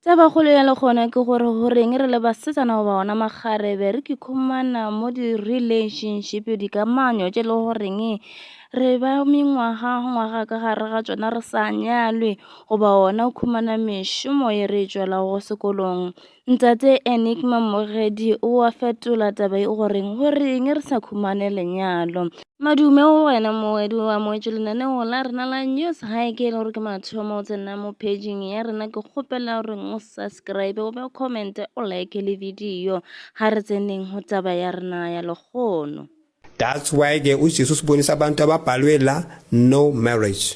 Taba kgolo ya le gona ke gore go reng re le basetsana goba ona makgarebe re kikhumana mo di-relationship dikamanyo tše e le goreng re ba mengwaga ngwaga ka gare ga tšona re sa nyalwe goba ona o khumana mešomo e re e tšwelago sekolong. Ntate Enigma Mogedi o a fetola taba e goreng go reng re sa khumane lenyalo. Madume go wena moedi wa moetšo lenaneo la rena la news ga e ke e le gore ke mathomo o tsena mo paging ya rena ke kgopela gore o subscribe o be o commente o like le video ga re tseneng go taba ya rena ya lekgono That's why ke uJesus bonisa abantu ababhalwe la no marriage.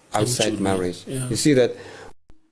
outside marriage yeah. you see that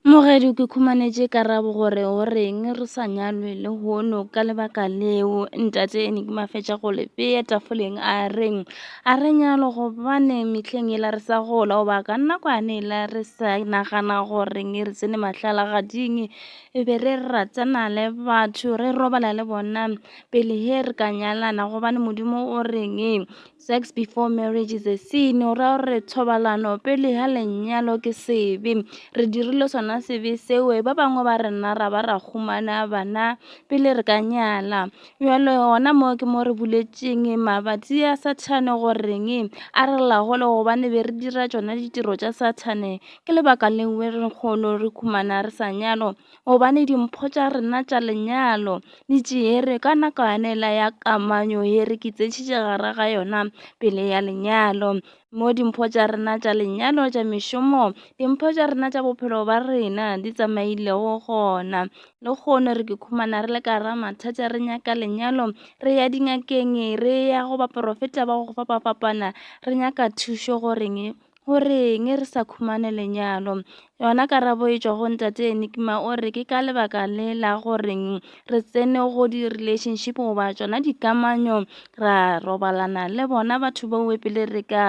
Mogedi ke khumanetše karabo gore o reng re sa nyalwe le hono ka lebaka leo ntate ene ke mafetša go le bea tafoleng a reng a re nyalo gobane mehleng e la re sa gola o ba ka nna kwane e la re sa nagana gore nge re tsene mahlala gading e be re ratana le batho re robala le bona pele he re ka nyalana gobane modimo o reng Sex before marriage is a sin o ra gore thobalano pele ga lenyalo ke sebe re dirile sona sebe seo ba bangwe ba rena ra ba ra humana bana pele re ka nyala bjalo gona mo ke mo re buletseng mabatsi a sathane goreng a re lagole gobane be re dira tsona ditiro tša sathane ke lebaka lengwe re kgolo re humana re sa nyalo gobane dimpho tša rena tša lenyalo di tšeere ka nako yane la ya kamanyo ye re kitsetšitše gare ga yona pele ya lenyalo mo dimpho tša rena tša lenyalo tša mešomo dimpho tša rena tša bophelo ba rena di tsamailego gona le kgone re ke khumana re le ka ra mathata re nyaka lenyalo re ya dingakeng re ya go baporofeta ba go fapafapana re nyaka thušo goreng O reng re sa khumane lenyalo? Yona karabo e tšwa go ntate Enigma o re ke ka lebaka le la goreng re tsene go di-relationship goba tšona dikamanyo ra robalana le bona batho bao pele re ka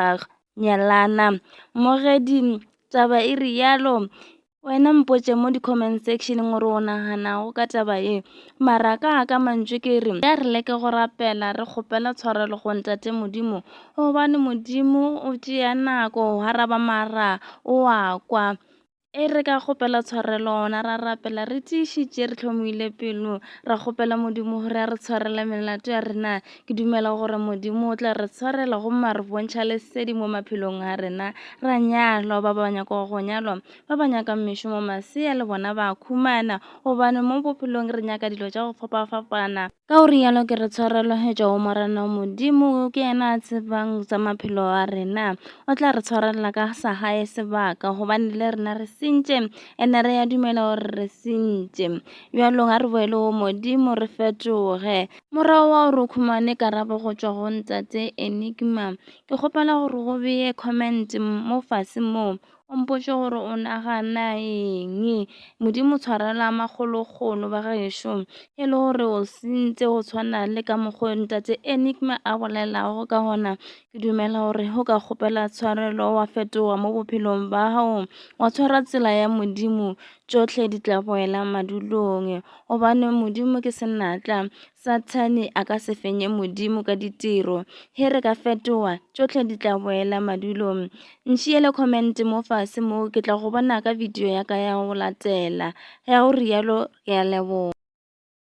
nyalana. Mogedi taba e re yalo Wena mpotše mo di-comment sectioneng gore o naganago ka taba ye. Mara ka ka mantšu ke re, ya re leke go rapela re kgopela tshwarelo go Ntate Modimo, gobane Modimo o tšea nako go araba mara o a kwa. E re ka kgopela tshwarelo gona ra rapela re tiišitše re tlhomile pelo, ra kgopela Modimo gore a re tshwarele melato ya rena Ke dumela gore Modimo o tla re tshwarela gomme a re bontšha lesedi mo maphelong a rena ra nyalwa ba ba nyaka go nyalwa ba ba nyaka mešomo masea le bona ba khumana gobane mo bophelong re nyaka dilo tša go fapafapana ka o rialo ke re tshwarelo hetša o morena Modimo ke yena a tsebang tsa maphelo a rena o tla re tshwarelela ka sa gae sebaka gobane le rena re sentše ene re ya dumela gore re sentše bjalong a re boele go Modimo re fetoge Morago wa gore o khumane karabo go tšwa go Ntate Enigma, ke kgopela gore go beye comment mo fase mo, o mpotše gore o nagana eng. Modimo tshwarela makgolokgolo ba gešo, e le gore o sentse go tshwana le ka mokgwa o Ntate Enigma a bolelago ka gona. Ke dumela gore o ka kgopela tshwarelo wa fetoga mo bophelong ba gago, wa tshwara tsela ya Modimo. tšohle di tla go wela madulong gobane modimo ke senatla sathane a ka se fenye modimo ka ditiro he re ka fetoga tšohle di tla boela madulong ntšhiele comment mo fase mo ke tla go bona ka video ya ka ya go latela ya go rialo ke a leboga